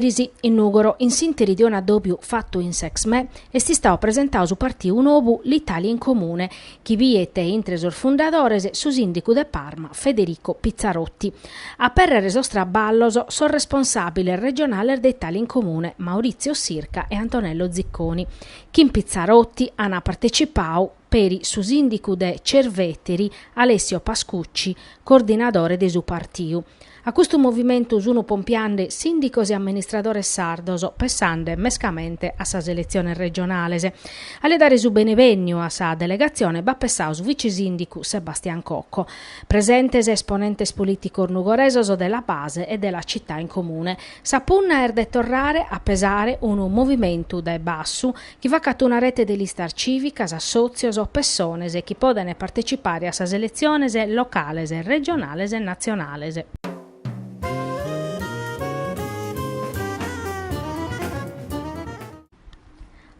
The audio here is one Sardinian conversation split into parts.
Eris, in Nùgoro, in s'Interi de unu adòbiu fatu in s'Exmè, est istadu presentadu su partiu nou L'Italia in Comune, chi bidet intre sos fundadores su sìndigu de Parma Federico Pizzarotti. A pèrrere sos traballos sos responsàbiles regionales de Italia in Comune, Maurizio Sirca e Antonello Zicconi, chin Pizzarotti ant partecipadu peri su sìndicu de Cerveteri, Alessio Pascucci, coordinadore de su partiu. A custu movimentu sunt pompiende sìndicos e amministradores sardos, pensende mescamente a sas eletziones regionales. A li dare su benevènniu a sa delegatzione b'at pensadu su vice-sìndicu Sebastian Cocco. Presentes esponentes polìticos nugoresos de La Base e de La Città in Comune. Sa punna est de torrare a pesare unu movimentu dae bassu chi facat una rete de listas cìvicas, assòtzios o pessones chi podent partecipare a sas eletziones locales, regionales e natzionales.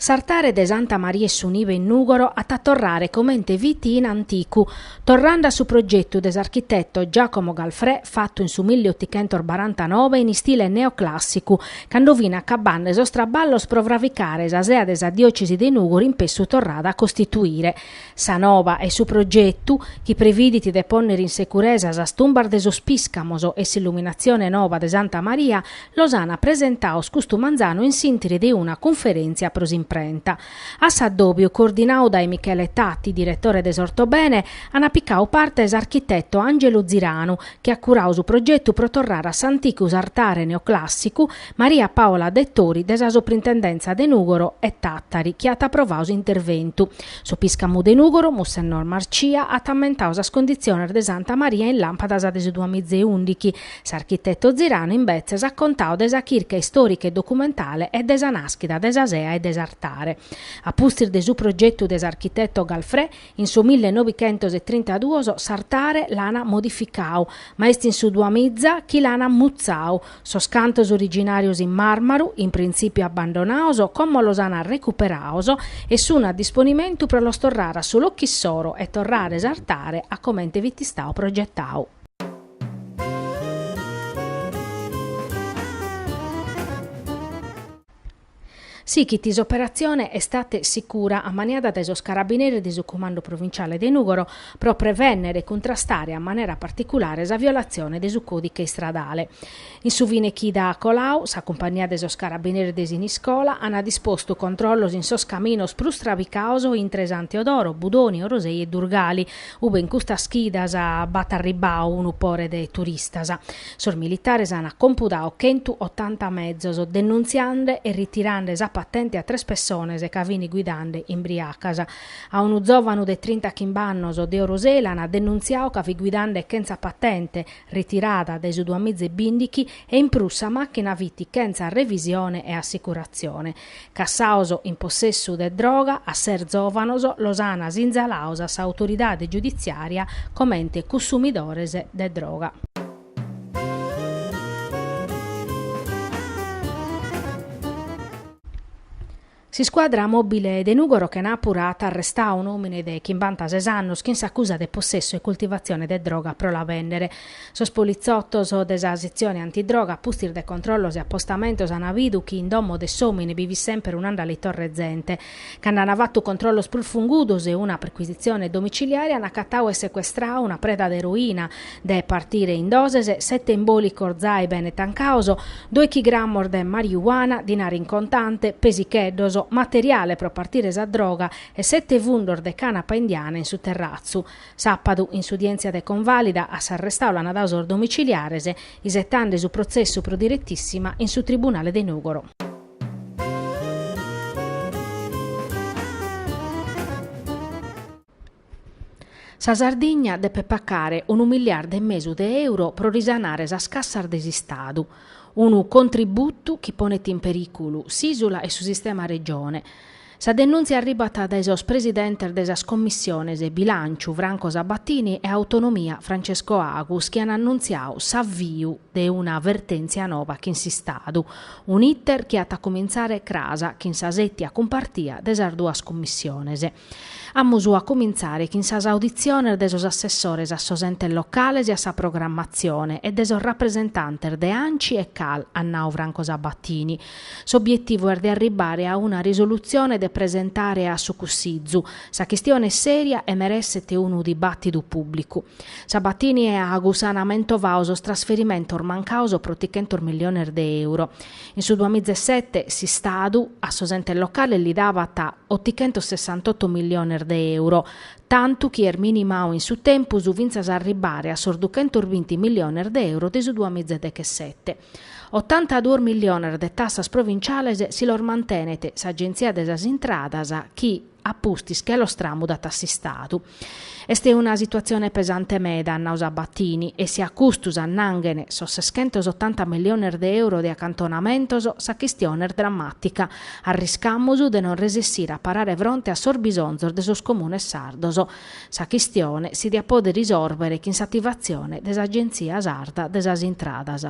S'artare de Santa Maria 'e su Nive in Nùgoro at a torrare comente fit in anticu, torrende a su progetu de s'architeto Giacomo Galfrè fatu in su milli otichentos barantanove in istile neoclàssicu, cando fint acabende sos traballos pro fraficare sa sea de sa diòcesi de Nùgoro inpessu torrada a costituire sa nova e-i su progetu, chi previdit de pònnere in securesa sas tumbas de sos Pìscamos e s'illuminatzione nova de Santa Maria, Los ana presentaos custu manzanu in s'interi de una cunferentzia pro s'imprenta. A s'addòbiu, coordinau dae Michele Tatti, diretore de s'Ortobene, ana picau parte s'architeto Angelu Ziranu, chi at curau su progetu pro torrare a s'anticu s'artare neoclàssicu, Maria Paola Dettori de sa Soprintendentza de Nùgoro e Tàtari, chi at aprovau s'interventu. Su piscamu de Nùgoro, Mussennor Marcia, at ammentau sas conditziones de Santa Maria in làmpadas de su duamiza e ùndighi, S'architetu Ziranu imbetzes at contadu de sa chirca istòrica e documentale e de sa nàschida de sa sea e de s'artare. A pustis de su progetu de s'architetu Galfré, in su mille novichentos e trintaduos s'artare l'ana modificadu, ma est in su duamiza chi l'ana mutzadu. Sos cantos originàrios in màrmaru, in printzìpiu abbandonados, como los ana recuperados e sun a disponimentu pro los torrare a su locu issoro e torrare s'artare a comente fit istadu progetadu. Sighit s'operatzione Estate Sicura ammaniada dae sos carabineris de su Cumandu Provinciale de Nùgoro pro prevènnere e cuntrastare a manera particulare sa violatzione de su còdiche istradale. In su finechida colau, sa cumpagnia de sos carabineris de Siniscola ana dispostu controllos in sos caminos prus trabicados intre Santu Teodoro, Budoni, Orosei e Durgali, ube in custas chidas b'at arribbau unu pore de turistas. Sos militares ana compudau chentu otanta mezos, denuntziande e ritirande sa patente a tres pessonas ca fin guidande imbriacas. A unu zovanu de trinta chimb'annos de Orosei l'ana denuntziau ca fit guidande chentza patente, ritirada dae su duamiza e bìndichi e in prus sa màchina fit chentza revisione e assicuratzione. Cassaos in possessu de droga a ses zòvanos los an sinzalaos a s'autoridade giuditziària comente cussumidores de droga. S'iscuadra mòbile de Nùgoro chenàpura at arrestau un'òmine de chimbantases annos chin s'acusa de possessu e cultivatzione de droga pro la bènnere. Sos politzotos de sa setzione antidroga a pustis de controllos e apostamentos an bidu chi in domo de s'òmine bi fit semper un'andaletorra 'e zente. Cando an fatu controllos prus fungudos e una percuisitzione domiciliare an acatadu e secuestrau una preda de eroina, de partire in doses sete imbòlicos zai bene tancaos, dòichi gramos de mariuana, dinare in contante, pesicheddos, materiale pro partire sa droga e sete fundos de canapa indiana in su terratzu. Sàpadu, in s'udièntzia de convàlida, a s'arrestau l'an dau sos domiciliares, isetande su protzessu pro diretissima in su tribunale de Nùgoro. Sa Sardigna depet pacare unu miliardu e mesu de euro pro risanare sas cassas de s'Istadu, unu contributu chi ponet in perìculu s'ìsula e su sistema Regione. Sa denùntzia arribat dae sos presidentes de sas Commissiones Bilànciu, Franco Sabatini, e Autonomia, Francesco Agus, chi an annuntziau s'aviu de una vertèntzia nova chin s'Istadu, un'iter chi at a cumintzare cras chin sa sètia cumpartia de sas duas Commissiones. Amus a cumintzare chin sas auditziones de sos assessores a sos entes locales e a sa programmatzione e de sos rapresentantes de anci e cal, an nau Franco Sabatini. S'obietivu est de arribbare a una risolutzione de presentare a su Cussizu. Sa chistione est sèria e meresset unu dibàtidu pùblicu. Sabatini e Agus an mentovau sos trasferimentos mancaos pro trichentos milliones de euro. In su duamizesete s'Istadu a sos entes locales li davat otichentosessantotto milliones de euro, tantu chi est minimau in su tempus fintzas a arribbare a sos duchentosbinti milliones de euro de su duamizedechesete. Otantaduos milliones de tassas provintziales si los mantenet s'Agenzia de sas Intradas chi, a pustis che los tramudant a s'Istadu. Est una situatzione pesante meda, at nau Sabatini, e si a custu s'annanghen sos seschentos otanta milliones de euro de acantonamentos, sa chistione est drammàtica, arriscamus de non resessire a parare fronte a sos bisonzos de sos comunes sardos. Sa chistione si diat pòdere isòrbere chin s'ativatzione de s'Agenzia Sarda de sas Intradas.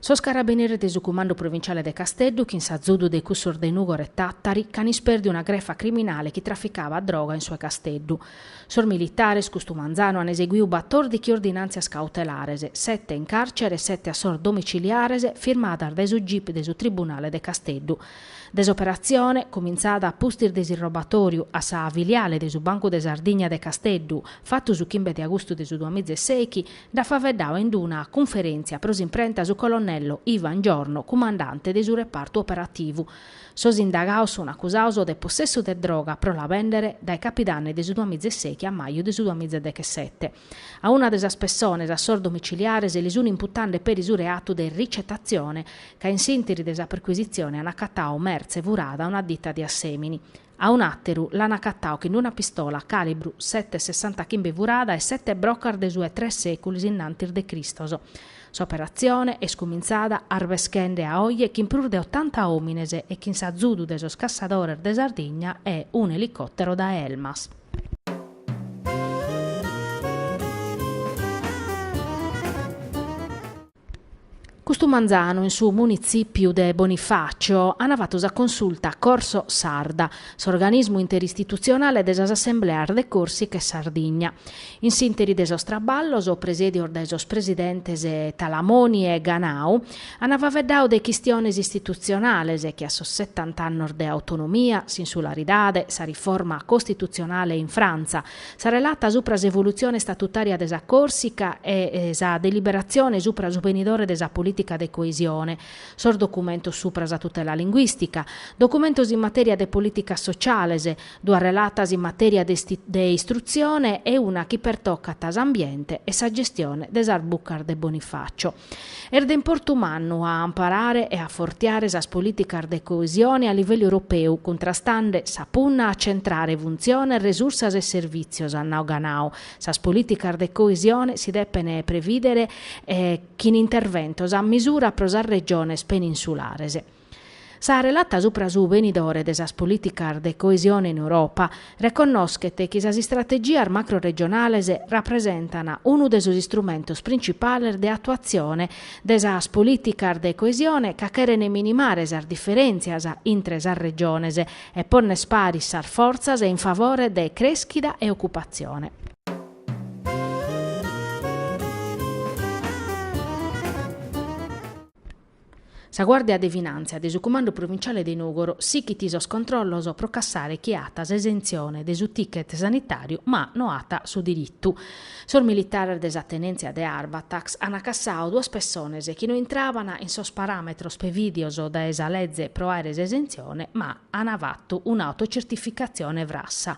Sos carabinieris de su Cumandu Provinciale de Casteddu chin s'azudu de cussos de Nùgoro e Tàtari ch'an isperdiu una grefa criminale chi traficabat droga in su 'e Casteddu. Sos militares, custu manzanu, an eseguiu batòrdichi ordinàntzias cautelares, sete in càrcere e sete a sos domiciliares, firmadas dae su gip de su Tribunale de Casteddu, de s'operatzione, cumintzada a pustis de s'irrobatóriu a sa filiale de su Bancu de Sardigna de Casteddu, fatu su chimbe de agustu de su duamiza e sèichi, nd'at faveddau in d-una cunferéntzia pro s'imprenta su colonnello Ivan Giorno, cumandante de su repartu operativu. Sos indagaos sun acusaos de possessu de droga pro la béndere dae capidanni de su duamiza e sèichi a maju de su duamiza e dechesete. A una de sas pessones a sos domiciliares li sun imputande peri su reatu de ricetatzione, ca in s'ìnteri de sa perquisitzione an acatau mertze furada a una ditta de Assèmini. A un'àteru l'an acatau chin una pistola càlibru sete sessantachimbe furada e sete brocas de su 'e tres sèculos innantis de Cristos. S'operatzione est cumintzada arbeschende a oje chin prus de otanta òmines e chin s'azudu de sos cassadores de Sardigna e un'elicòtero dae Elmas. Custu manzanu in su munitzìpiu de Bonifàcio an fatu sa consulta Corso Sarda, s'organismu interistitutzionale de sas assembleas de Còrsica e Sardigna. In s'ìnteri de sos traballos presèdios dae sos presidentes Talamoni e Ganau, Ana faveddau de chistiones istitutzionales che a sos setant'annos de autonomia, s'insularidade, sa riforma costitutzionale in Frantza, sa relata supra s'evolutzione statutària de sa Còrsica e sa deliberatzione supra su benidore de sa polìtica de coesione, sos documentos supra sa tutela linguìstica, documentos in matèria de polìticas sociales, duas relatas in matèria de istrutzione e una chi pertocat s'ambiente e sa gestione de sas bucas de Bonifacio. Est de importu mannu a amparare e afortiare sas polìticas de coesione a livellu europeu, cuntrastande sa punna a centrare funtziones, resursas e servìtzios, at nau Ganau. Sas polìticas de coesione si depent prevìdere chin interventos a misura pro sas regiones peninsulares. Sa relata supra su benidore de sas polìticas de coesione in Europa reconnoschet chi sas istrategias macroregionales rapresentan unu de sos istrumentos principales de atuatzione de sas polìticas de coesione ca cheren minimare sas diferèntzias intre sas regiones e ponner paris sas fortzas in favore de crèschida e ocupatzione. Sa Guàrdia de Finàntzia de su Cumandu Provinciale de Nùgoro sighit sos controllos pro cassare chi at s'esentzione de su ticket sanitàriu ma no at su diritu. Sos militares de sa tenèntzia de Arbatax ant cassadu duas pessones chi no intraban in sos paràmetros prevìdios dae sa leze pro àere s'esentzione ma ant fatu un'autocertificatzione frassa.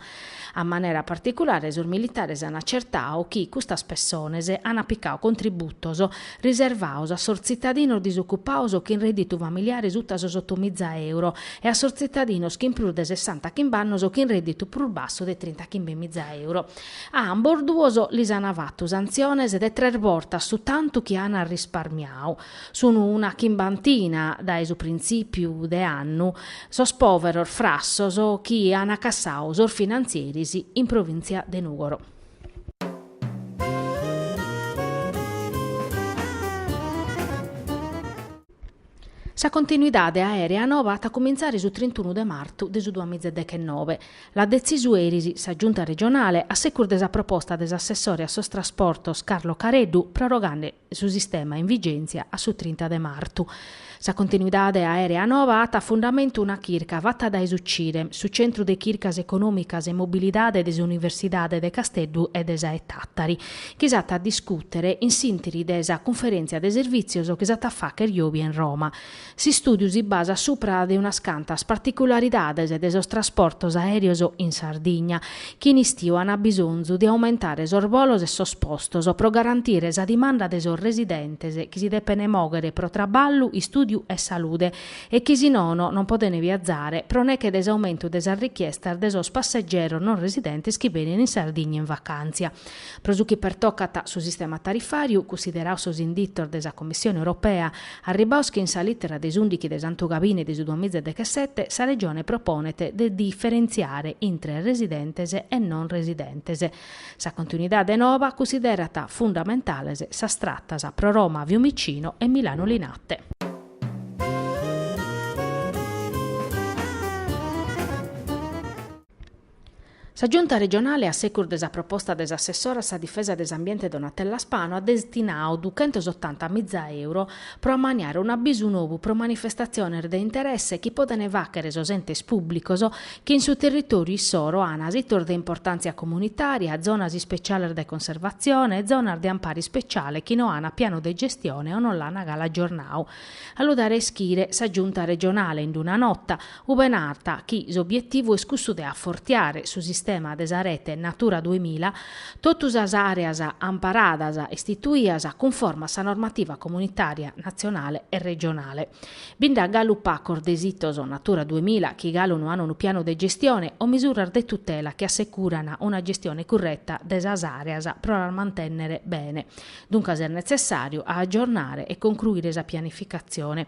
A manera particulare sos militares an acertadu chi custas pessones an aplicadu contributos riservados a sos tzitadinos disocupados chin redditu familiare sutta sos otomiza euro e a sos tzitadinos chin prus de sessanta chimb'annos chin redditu prus bassu de trinta chimbemiza euro. A ambos duos lis an fatu santziones de tres bortas su tantu chi an risparmiadu. Sunu una chimbantina dae su printzìpiu de annu sos pòveros frassos chi an cassadu sos finantzieris in provìntzia de Nùgoro. Sa continuidade aèrea nova at a cumintzare su trentunu de martu de su duas miza e dechenove. L'at detzisu eris sa Giunta regionale a segus de sa proposta de s'assessore a sos trasportos Carlo Careddu prorogande su sistema in vigèntzia a su trinta de martu. Sa continuidade aèrea nova at a fundamentu una chirca fata dae su CIREM, su Centru de Chircas Econòmicas e Mobilidade de s'Universidade de Casteddu e de sa 'e Tàtari, chi s'at a discùtere in s'ìntiri de sa cunferèntzia de servìtzios chi s'at a fàchere jòbia in Roma. S'istùdiu si basat supra de unas cantas particularidades de sos trasportos aèreos in Sardigna, chi in istiu ant bisonzu de aumentare sos bolos e sos postos pro garantire sa dimanda de sos residentes chi si depene mòghere pro traballu, istùdiu e salude e chi si nono non podene viazare pro neche de s'aumentu de sas richiestas de sos passegeros non residentes chi benen in Sardigna in vacàntzia. Pro su chi pertocat su sistema tarifàriu, cunsiderados sos inditos de sa Commissione Europea, Arribados chin sa lìtera de s'ùndichi de Santu Gabine de su duas miza e dechesete sa Regione proponet de diferentziare intre residentes e non residentes. Sa continuidade noba cunsiderat fundamentales sas tratas pro Roma Fiumicino e Milano Linate. Sa Giunta regionale, a segus de sa proposta de s'assessora a sa difesa de s'ambiente Donatella Spano, at destinadu duchentos otanta miza euro pro ammaniare un'abisu nou pro manifestatziones de interesse chi podent fàghere sos entes pùblicos chi in su territòriu issoro ana sitos de importàntzia comunitària, zonas ispetziales de conservatzione e zonas de ampare ispetziale chi no ana pianu de gestione o no l'ana galu agiornadu. A lu dare a ischire, sa Giunta regionale, in una nota, ube narat chi s'obietivu est cussu de afortiare su sistema de sa rete Natura duemila, totu sas areas amparadas istituias cunforma a sa normativa comunitària, natzionale e regionale. Bi nd'at galu pacos de sitos Natura duemila chi galu no ant unu pianu de gestione o misuras de tutela chi assecuran una gestione curreta de sas areas pro las mantènnere bene. Duncas est netzessàriu a agiornare e concruire sa pianificatzione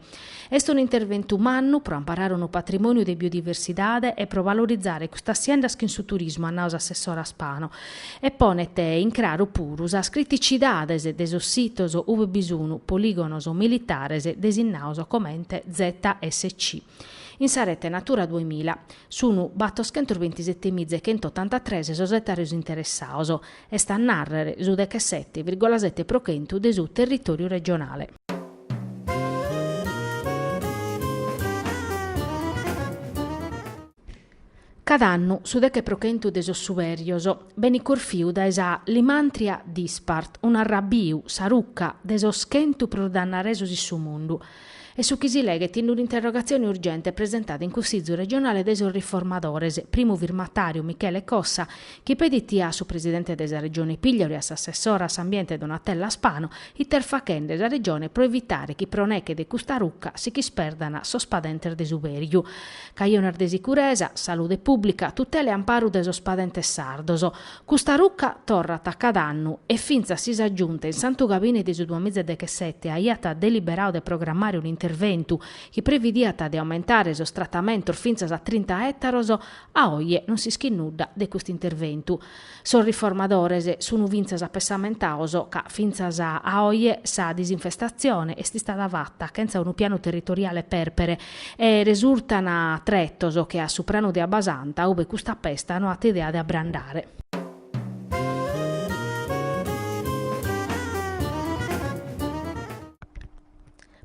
Est unu interventu mannu pro amparare unu patrimòniu de biodiversidade e pro valorizare custas siendas chin su turismu, at nau s'assessora Spano, e ponet in craru puru sas criticidades de sos sitos ue bi sun polìgonos militares designados comente ZSC. In sa rete Natura duemila sun batoschentos bentisete miza e chentu otantatres sos etàrios interessados, est a nàrrere su dechesete virgola sete pro chentu de su territòriu regionale. Cad'annu su deche pro chentu de sos subèrios benit corfiu dae sa Lymantria dispar, un'arrabiu, sa ruca, de sos chentu prus dannaresos in su mundu, est su chi si leghet in un'interrogatzione urgente presentada in cussizu regionale dae sos Riformadores, primu firmatàriu Michele Cossa, chi pedit a su presidente de sa Regione Pigliaru e a s'assessora a s'ambiente Donatella Spano, ite est faghende sa Regione pro evitare chi pro neche de custa ruca si ch'isperdan sos padentes de subèriu. Cajones de sicuresa, salude pùblica, tutela e amparu de sos padentes sardos. Custa ruca torrat a cada annu e fintzas si sa Giunta in Santu Gabine de su duamiza e dechesete aiat deliberadu de programmare un'interventu chi previdiat de aumentare sos tratamentos fintzas a trinta ètaros, A oje non s'ischit nudda de custu interventu. Sos riformadores sun fintzas apessamentados ca fintzas a oje sa disinfestatzione est istada fata chentza unu pianu territoriale pèrpere e resurtan tretos che a su pranu de Abbasanta ube custa pesta no at idea de abbrandare.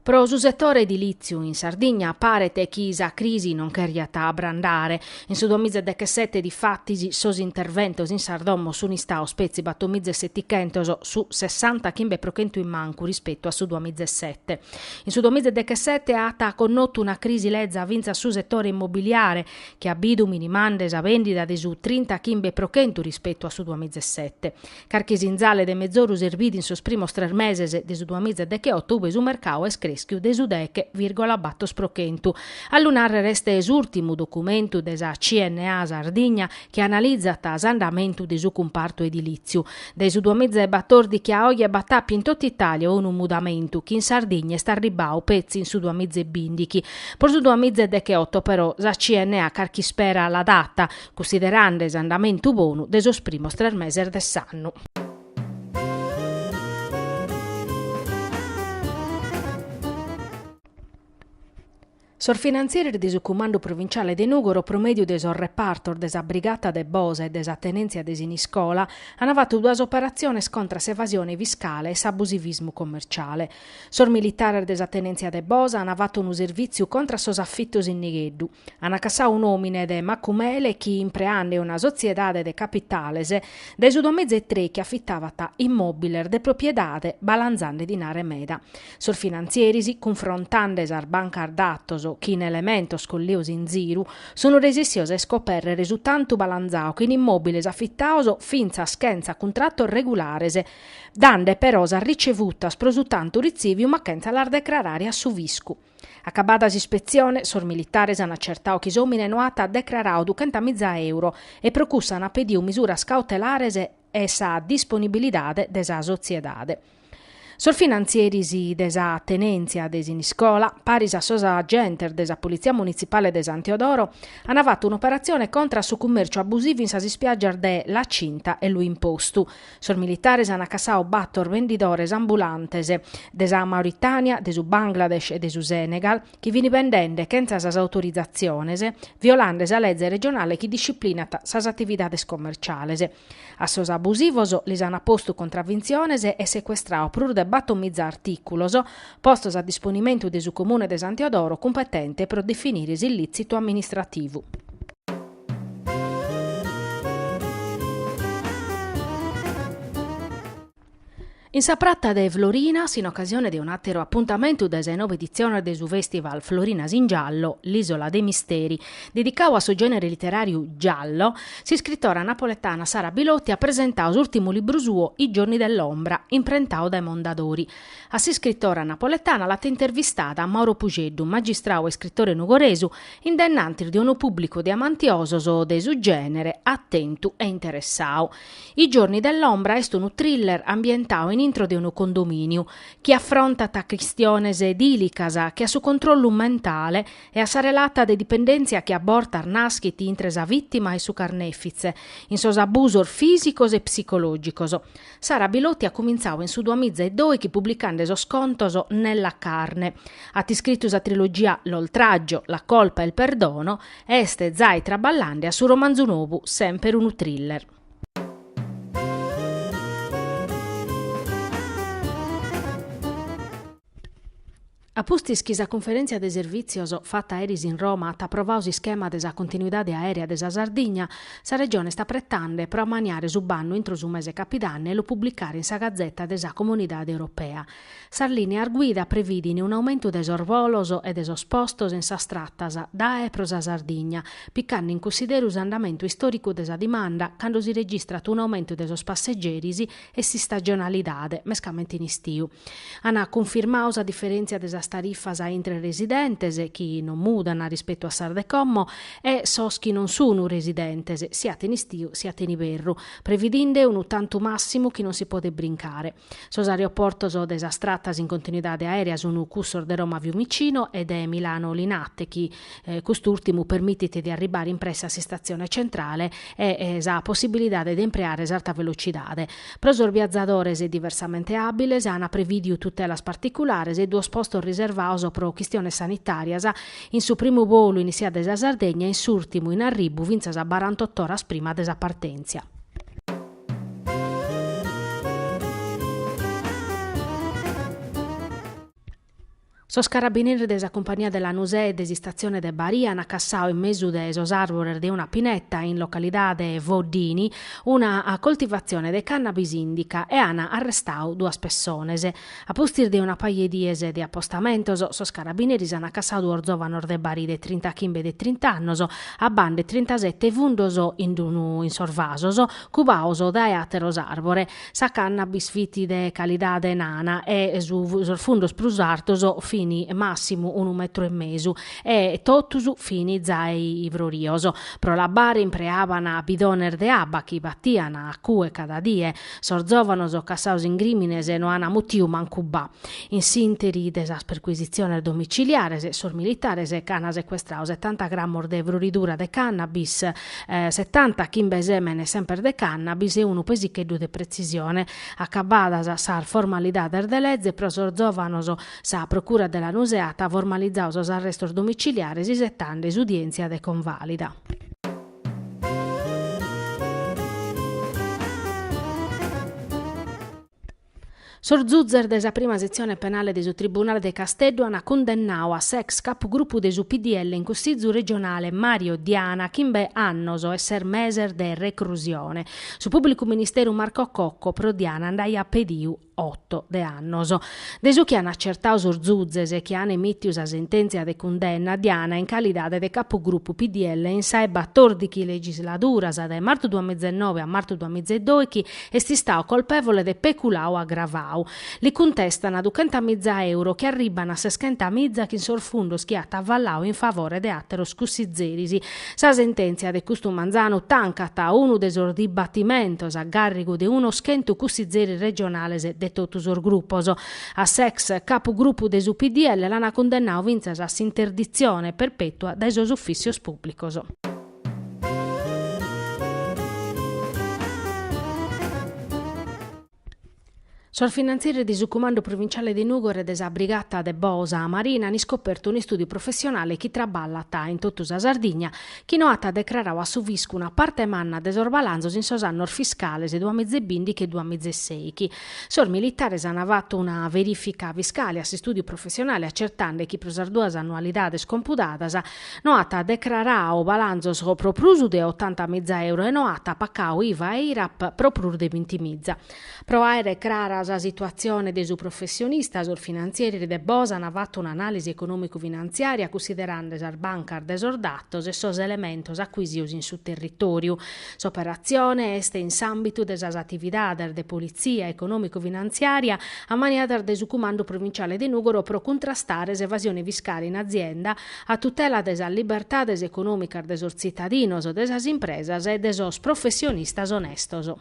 Pro su setore edilìtziu in Sardigna paret chi sa crisi non cheriat abrandare. In su duamiza e dechesete difatis sos interventos in sas domos sunt istados petzi batomiza e setichentos, su sessanta chimbe pro chentu in mancu rispetu a su duamiza e sete. In su duamiza e dechesete at connotu una crisi leza fintzas su setore immobiliare, chi at bidu minimande sa bèndida de su trinta chimbe pro chentu rispetu a su duamiza e sete. Carchi sinzale de mezoru si bidet in sos primos tres meses de su duamiza e decheoto ue su mercadu est crèschiu de su deghe vìrgola bator pro chentu. A lu nàrrere est s'ùrtimu documentu de sa CNA Sardigna chi analizat s'andamentu de su cumpartu edilìtziu. Dae su duamiza e batòrdichi a oe b'at àpiu in totu Itàlia unu mudamentu chi in Sardigna est arribbadu petzi in su duamiza e bìndichi. Pro su duamiza e decheoto però sa CNA carchi ispera la dat, cunsiderande s'andamentu bonu de sos primos tres meses de s'annu. Sos finantzieris de su Cumandu Provinciale de Nùgoro pro mèdiu de sos repartos de sa Brigata de Bosa e de sa Tenèntzia de Siniscola an fatu duas operatziones contra s'evasione fiscale e s'abusivismu commerciale. Sos militares de sa Tenèntzia de Bosa an fatu unu servìtziu contra sos afitos in nigheddu. Ana cassau un'omine de Macumele chi impreande una sotziedade de capitales dae su duamiza e trèichi affittavat immobiles de propiedade balanzande dinare meda. Sos finanzieris cunfrontande sas bancas datos chin elementos collios in ziru sun resessios a iscoperrere su tantu balanzau chin immobiles affittaos finzas chentza cuntratos regulares dande però sas ricevutas pro su tantu ritziviu ma chentza las decrarare a su fiscu. Acabada s'ispetzione, sos militares an acertadu chi s'òmine no at decraradu duchentamiza euro e pro cussu an pedidu misuras cautelares e sa disponibilidade de sa sotziedade. Sos finantzieris de sa tenèntzia de Siniscola, paris a sos agentes de sa Politzia Munitzipale de San Teodoro, an fatu un'operatzione contra a su cummèrciu abusivu in sas ispiàgias de La Cinta e Lu Impostu, Sos militares ant cassadu bator vendidores ambulantes de sa Mauritània, de su Bangladesh e de su Senegal chi fin bendende chentza sas autorizatziones, violande sa leze regionale chi disciplinat sas atividades commerciales. A sos abusivos lis ant postu contravintziones e secuestradu prus de batomiza artìculos postos a disponimentu de su Comune de San Teodoro cumpetente pro definire s'illìtzitu amministrativu. In sa Prata de Florinas, in ocasione de un'àteru apuntamentu de sa 'e nobe editziones de su fèstival Florinas in Giallo, L'Isola dei Misteri, dedicadu a su gènere literàriu giallo, s'iscritora napoletana Sara Bilotti at presentadu s'ùrtimu libru suo I giorni dell'ombra, imprentadu dae Mondadori. A s'iscritora napoletana l'at intervistada Mauro Pusceddu, magistrau e iscritore nugoresu, in dennantis de unu pùblicu de amantiosos de su gènere atentu e interessadu. I giorni dell'ombra est unu thriller ambientadu in intro de unu condomìniu, chi afrontat chistiones dìlicas che a su controllu mentale e a sa relata de dipendèntzia chi a bortas naschit intre sa vìtima e su carnèfitze, in sos abusos fìsicos e psicològicos. Sara Bilotti at cumintzadu in su duamiza e doighi publicande sos contos Nella carne. At iscritu sa trilogia L'oltraggio, la colpa e il perdono e est zai traballande a su romanzu nobu, semper unu thriller. A pustis chi sa Cunferèntzia de Servìtzios fata eris in Roma at aprovadu s'ischema de sa continuidade aèrea de sa Sardigna, sa Regione est apretande pro ammaniare su bannu intro su mese capidanne e lu publicare in sa Gazeta de sa Comunidade Europea. Sas lìneas guida previdin un'aumentu de sos bolos e de sos postos in sas tratas dae e pro sa Sardigna, picande in cunsideru s'andamentu istòricu de sa dimanda cando si registrat un'aumentu de sos passegeris e s'istagionalidade, mescamente in istiu. An cunfirmadu sa diferèntzia de sas tarifas intre residentes, chi non mudan rispetu a sas de como, e sos chi non sunu residentes, siat in istiu siat in iberru, previdinde unu tantu màssimu chi non si podet brincare. Sos aeroportos de sas tratas in continuidade aèrea sunu cussos de Roma-Fiumicino e de Milano-Linate chi, cust'ùrtimu permitit de arribare in pressa a s'istatzione centrale e sa possibilidade de impreare s'arta velocidade. Pro sos biazadores diversamente àbiles ant prevìdiu tutelas particulares e duos postos riservados pro chistiones sanitàrias, in su primu bolu in issia dae sa Sardegna e in s'ùrtimu in arribu fintzas a barantotto oras prima de sa partèntzia. Sos carabineris de sa cumpagnia de Lanusè e de s'istatzione de Barì ant cassadu in mesu de sos àrbores de una pineta in localidade Voddini una coltivatzione de cannabis indica e ant arrestadu duas pessones. A pustis de una paja 'e dies de apostamentos, sos carabineris ant cassadu duos zòvanos de Barì de trintachimbe e de trint'annos abbande trintasete fundos in sos vasos cubados dae àteros àrbores. Sa cannabis fit de calidade nana e sos fundos prus artos fin massimu unu metru e mesu e totus fin zai ivrorios. Pro l'abbare impreaban bidones de abba chi battian a cue cada die. Sos zovanos cassados in crimines no an mutiu mancu ba. In s'interi de sas perquisitziones domiciliares sos militares ch'an secuestradu setanta grammos de ivroridura de cannabis, Setanta chimbe sèmenes semper de cannabis e unu pesicheddu de pretzisione. Acabadas sas formalidades de leze pro sos zòvanos, sa procura de Lanusè at formalizadu sos arrestos domiciliares isetande s'udièntzia de convàlida. Sos zuzzes de sa prima setzione penale de su Tribunale de Casteddu ant cundennadu a s'ex capugrupu de su PDL in Cussizu regionale Mario Diana chimbe annos e ses meses de recrusione. Su pùblicu ministeru Marco Cocco pro Diana nd'aiat pedidu oto de annos. De su chi ant acertadu sos zuzzes chi ant emìtidu sa sentèntzia de cundenna, Diana in calidade de capugrupu PDL in sa 'e batòrdighi legisladuras, dae martu duamiza e noe a martu duamiza e doighi, Est istau colpevole de peculau agravau. Li cuntestana duchenta miza euro chi arribbana a seschenta miza chin sos fundos chi at avallau in favore de ateros cussizeris. Sa sententzia de custu manzanu tancat unu de sos dibattimentos a garrigu de unos chentu cussizeris regionales de totu sos gruppos. A s'ex capu gruppu de su PDL l'ana cundennau fintzas a s'interditzione perpetua dae sos uffissios pubblicos. Sos finantzieris de su Cumandu Provinciale de Nùgoro e de sa Brigata de Bosa Marina an iscopertu un'istùdiu professionale chi traballat in totu sa Sardigna chi no at decraradu a su fiscu una parte manna de sos balanzos in sos annos fiscales duamiza e bìndighi e duamiza e sèighi. Sos militares an fatu una verìfica fiscale a s'istùdiu professionale acertande chi pro sas duas annualidades compudadas No at decrarau balanzos pro prus de otanta miza euro e no at pacau IVA e IRAP pro prus de binti miza. Pro àere crara sa situatzione de su professionista sos finantzieris de Bosa an fatu un'anàlisi econòmicu-finanziària cussiderande sas bancas de sos datos e sos elementos acuisios in su territòriu. S'operatzione est in s'àmbitu de sas atividades de politzia econòmicu-finanziària ammaniadas de su Cumandu Provinciale de Nùgoro pro cuntrastare s'evasione fiscale in azienda, a tutela de sas libertades econòmicas de sos tzitadinos, de sas impresas e de sos professionistas onestos.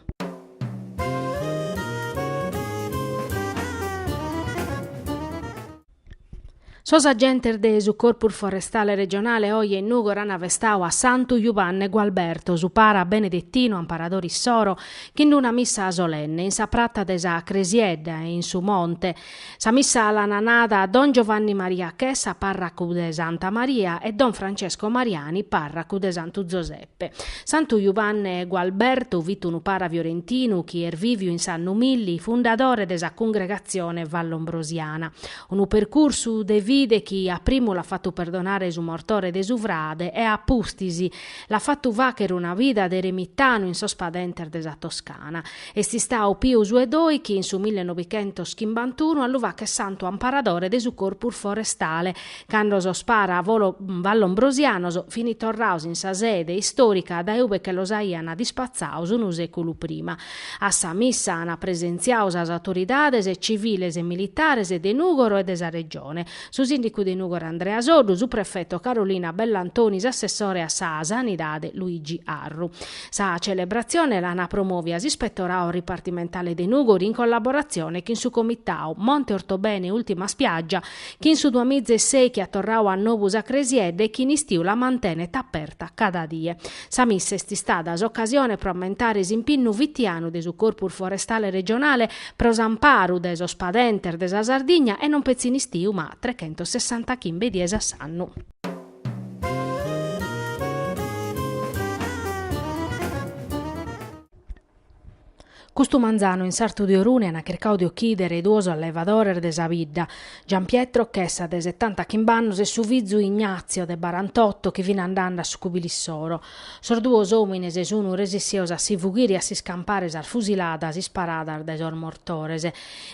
Sos agentes de su Corpus Forestale Regionale oje in Nùgoro ant festau a Santu Jubanne Gualberto, su para benedettinu amparadore issoro, chin una missa solenne in sa prata de sa Cresiedda e in su monte, Sa missa l'ana nada don Giovanni Maria Chessa parracu de Santa Maria e don Francesco Mariani parracu de Santu Zoseppe. Santu Jubanne Gualbertu fit unu para fiorentinu chi est viviu in s'annu milli fundadore de sa congregatzione vallombrosiana. Unu percursu de fide chi a primu l'at fatu perdonare su mortore de su frade e a pustis l'at fatu facher una vida de eremitanu in sos padentes de sa Toscana. Est istau Piu su 'e Doichi in su millenovichentoschimbantunu a lu facher santu amparadore de su corpus forestale. Cando sos paras vallombrosianos fini torraos in sa sede istorica dae ube che los aian dispatzaos unu seculu prima. A sa missa ana presentziau sas autoridades civiles e militares de Nugoro e de sa Regione, su sindicu de Nugoro Andrea Soddu, su prefeto Carolina Bellantoni s'assessore a sa Sanidade Luigi Arru. Sa celebratzione l'ana promovia s'Ispettorau Ripartimentale de Nùgoro in collaboratzione chin su Comitau Monte Ortobene Ultima Spiaggia, chi in su duamiza e ses che at torrau a nobu sa cresiedda e chi in istiu la mantenet aperta cada die. Sa missa est istada s'ocasione pro ammentare s'impinnu fitianu de su Corpus Forestale Regionale pro s'amparu de sos padentes de sa Sardigna e non petzi in istiu ma trechentossessantachimbe dies a s'annu. Custu manzanu in sartu de Orune an chircau de ochidere duos allevadores de sa bidda, Giampietro Chessa de setanta chimb'annos e su fizu Ignazio de barantotto chi fin andande a su cubile issoro. Sos duos omines sun resissios a si fughire e a s'iscampare sas fusiladas isparadas dae sos mortores.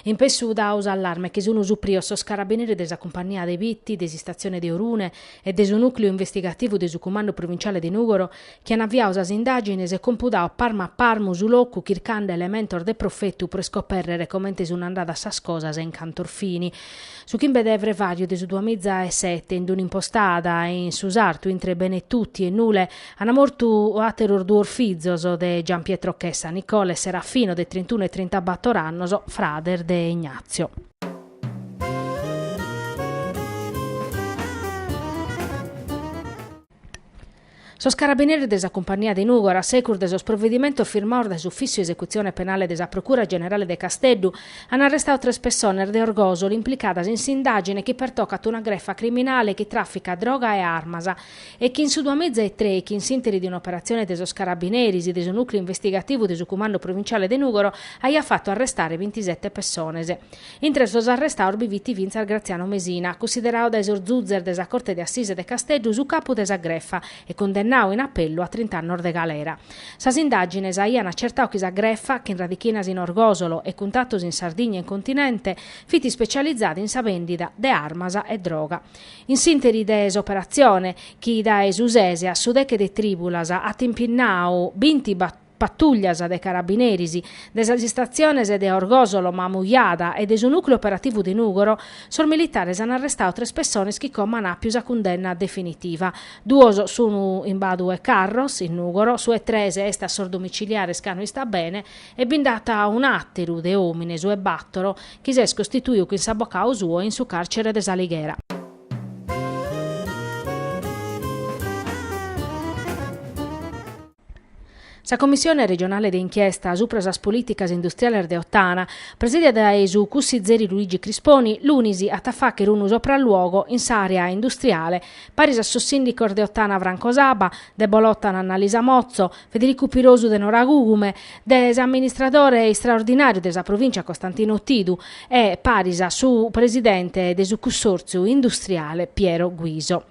In pessu dau s'allarme che sunu suprios sos carabinieri de sa cumpannia de Bitti, de s'istatzione de Orune e de su nùcleu investigativu de su cumandu provinciale de Nùgoro chi an aviau sas indàgines e compudau parmu a parmu su locu chircande elementos de profetu pro iscopèrrere comente sunu andadas sas cosas e in cantos fini. Su chimbe de frevàriu de su duamiza e sete in un'impostada in su sartu intre Benetutti e Nule, Ant mortu àteros duos fizos de Gianpietro Chessa, Nicola e Serafino, de trintunu e trintabàtor annos, frades de Ignazio. Sos carabineris de sa Cumpannia de Nùgoro, a segus de sos provedimentos firmados dae s'Ufìssiu 'e Esecutzione Penale de sa Procura Generale de Casteddu, ant arrestadu tres pessones de Orgosoli implicadas in s'indàgine chi pertocat una grefa criminale chi tràficat droga e armas, chi in su duamìgia e trei, chi in s'interi de un'operatzione de sos carabineris e de su nùcleu investigativu de su Cumandu Provintziale de Nùgoro, aiat fatu arrestare bintisete pessones. Intre sos arrestados bi fit fintzas Graziano Mesina, cussideradu dae sos zuzes de sa Corte de Assise de Casteddu su capu de sa grefa e cundennadu in apellu a trint'annos de galera. Sas indàgines aian acertadu chi sa grefa, chin radichinas in Orgòsolo e cuntatos in Sardigna e in continente, fit ispetzializada in sa bèndida de armas e droga. In s'interi de s'operatzione, chi dae su sese a su deche de trìbulas at impinnau binti patùllias de carabineris de sas istatziones de Orgòsolo, Mamujada e de su nùcleu operativu de Nùgoro, sos militares an arrestadu tres pessones chi como an àpiu sa cundenna definitiva. Duos sun in Badu 'e Carros, in Nùgoro, su 'e tres est a sos domiciliares ca no istat bene e bi nd'at un'àteru de òmine, su 'e bàtoro, chi s'est costituiu chin s'abocau suo in su càrcere de s'Alighera. Sa Commissione regionale de inchiesta supra sas polìticas industriales de Ottana, presìdia dae su cussizeri Luigi Crisponi, lunis at a fàghere unu sopralluogo in s'àrea industriale, paris a sos sìndicos de Ottana Franco Saba, de Bolòtana Annalisa Motzo, Federicu Pirosu de Noragugume, de s'amministradore istraordinàriu de sa provìncia Costantino Tidu e paris a su presidente de su cussòrtziu industriale Piero Guiso.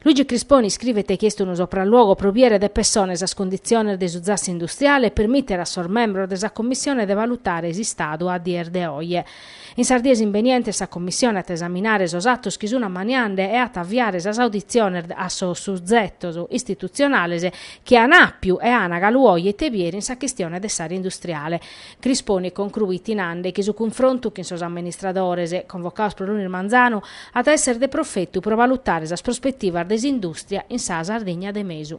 Luigi Crisponi iscrivet chi est unu sopralluogo pro biere de pessone sas conditziones de su zassi industriale e permìtere a sos membros de sa commissione de valutare s'istadu a dies de oje. In sas dies imbenientes sa Commissione at a esaminare sos atos chi sun ammaniande e at a avviare sas auditziones a sos suzetos istitutzionales chi an àpiu e an galu oje ite biere in sa chistione de s'àrea industriale. Crisponi concruit nande chi su cunfrontu chin sos amministradores, convocados pro lunis manzanu, at a èssere de profetu pro valutare sas prospetivas de s'indùstria in sa Sardigna de mesu.